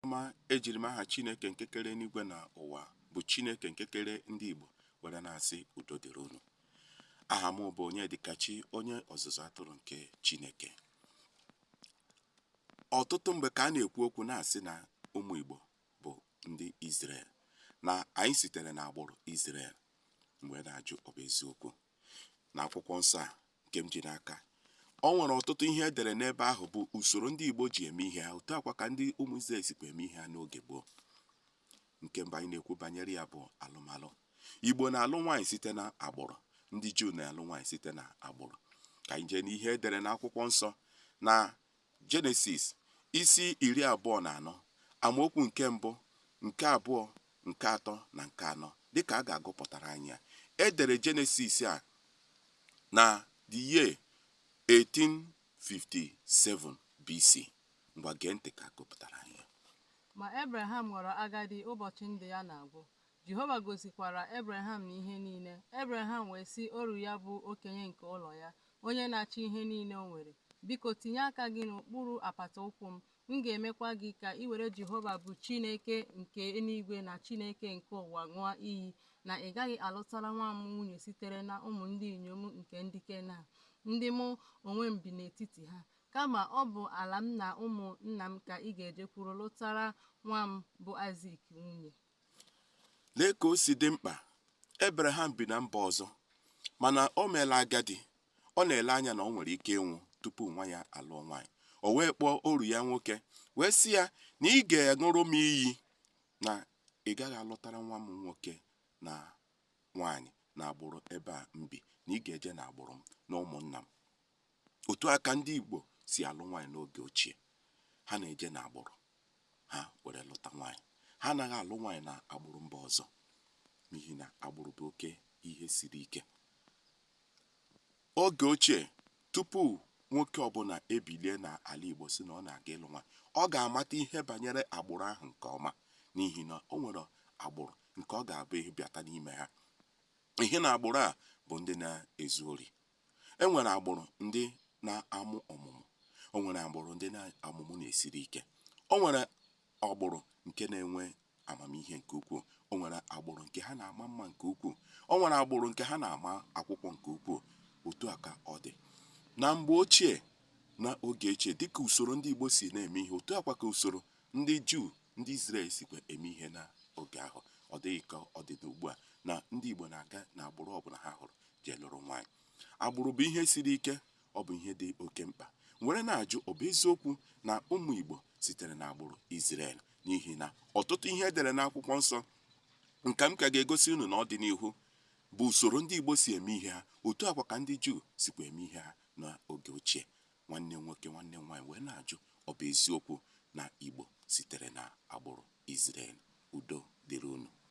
ọma ejiri m aha Chineke nke kere eluigwe na ụwa bụ Chineke nke kere ndị Igbo were na-asị udo dịrị unu aha m bụ Onyedikachi onye ọzụzụ atụrụ nke Chineke ọtụtụ mgbe ka a na-ekwu okwu na-asị na ụmụ Igbo bụ ndị Izrel na anyị sitere n'agbụrụ Izrel m wee na-ajụ ọ bụ eziokwu na akwụkwọ nsọ a nke m ji n'aka o nwere ọtụtụ ihe e dere n'ebe ahụ bụ usoro ndị Igbo ji eme ihe ha otu a kwa ka ndị ụmụ Izrel sikwa eme ihe ha n'oge gboo nke mbụ anyị na-ekwu banyere ya bụ alụmalụ Igbo na-alụ nwaanyị site na agbụrụ ndị Juu na-alụ nwaanyị site na agbụrụ ka anyị jee n'ihe e dere n'akwụkwọ nsọ na Jenesis isi iri abụọ na anọ amaokwu nke mbụ, nke abụọ, nke atọ na nke anọ. Dịka a ga-agụpụtara anyị ya, e dere Jenesis a na the year 1857 BC. Ngwa gee ntị ka a gụpụtara anyị ya. Ma Ebreham ghọrọ agadi, ụbọchị ndụ ya na-agwụ. Jehova gọzikwara Ebreham na ihe niile. Ebreham wee sị oru ya bụ okenye nke ụlọ ya, onye na-achị ihe niile o nwere, Biko, tinye aka gị n'okpuru apata ụkwụ m, m ga-emekwa gị ka i were Jehova bụ Chineke nke eluigwe na Chineke nke ụwa ṅụọ iyi na ị gaghị alụtara nwa m nwunye sitere na ụmụ ndị inyom nke ndị Kenan, ndị mụ onwe m bi n'etiti ha, kama ọ bụ ala m na ụmụ nna m ka ị ga-ejekwuru lụtara nwa m bụ Aịzik nwunye. Lee ka o si dị mkpa, Ebreham bi na mba ọzọ, mana o meela agadi, ọ na-ele anya na o nwere ike ịnwụ tupu nwa ya alụọ nwaanyị. O wee kpọọ oru ya nwoke wee sị ya na ị ga-aṅụrụ m iyi na ị gaghị alụtara nwa m nwoke na nwaanyị n'agbụrụ ebe a m bi, na ị ga-eje n'agbụrụ m na ụmụnna m. Otu a ka ndị Igbo si alụ nwaanyị n'oge ochie. Ha na-eje n'agbụrụ ha were lụta nwaanyị. Ha anaghị alụ nwaanyị na agbụrụ mba ọzọ n'ihi na agbụrụ bụ oke ihe siri ike. Oge ochie, tupu nwoke ọbụla ebilie n'ala Igbo sị na ọ na-aga ịlụ nwaanyị, ọ ga-amata ihe banyere agbụrụ ahụ nke ọma n'ihi na o nwere agbụrụ nke ọ ga-abụ ị bịata n'ime ha, ị hụ na agbụrụ a bụ ndị na-ezu ori, E nwere agbụrụ ndị na-amụ ọmụmụ. O nwere agbụrụ ndị na ọmụmụ na-esiri ike. O nwere agbụrụ nke na-enwe amamihe nke ukwuu. O nwere agbụrụ nke ha na-ama mma nke ukwuu. O nwere agbụrụ nke ha na-ama akwụkwọ nke ukwuu. Otu a ka ọ dị. Na mgbe ochie, na oge ochie, dịka usoro ndị Igbo si na-eme ihe, otu a kwa ka usoro ndị Juu, ndị Izrel sikwa eme ihe n'oge ahụ. Ọ dịghị ka ọ dị n'ugbu a na ndị Igbo na-aga n'agbụrụ ọbụla ha hụrụ jee lụrụ nwaanyị agbụrụ bụ ihe siri ike ọ bụ ihe dị oke mkpa m were na-ajụ ọ bụ eziokwu na ụmụ Igbo sitere na agbụrụ Izrel n'ihi na ọtụtụ ihe e dere n'akwụkwọ nsọ nke m ka ga-egosi unu na ọdịnihu bụ usoro ndị Igbo si eme ihe ha otu a kwa ka ndị Juu sikwa eme ihe ha n'oge ochie nwanne nwoke nwanne nwaanyị m wee na-ajụ ọ bụ eziokwu na Igbo sitere na agbụrụ Izrel udo dịrị unu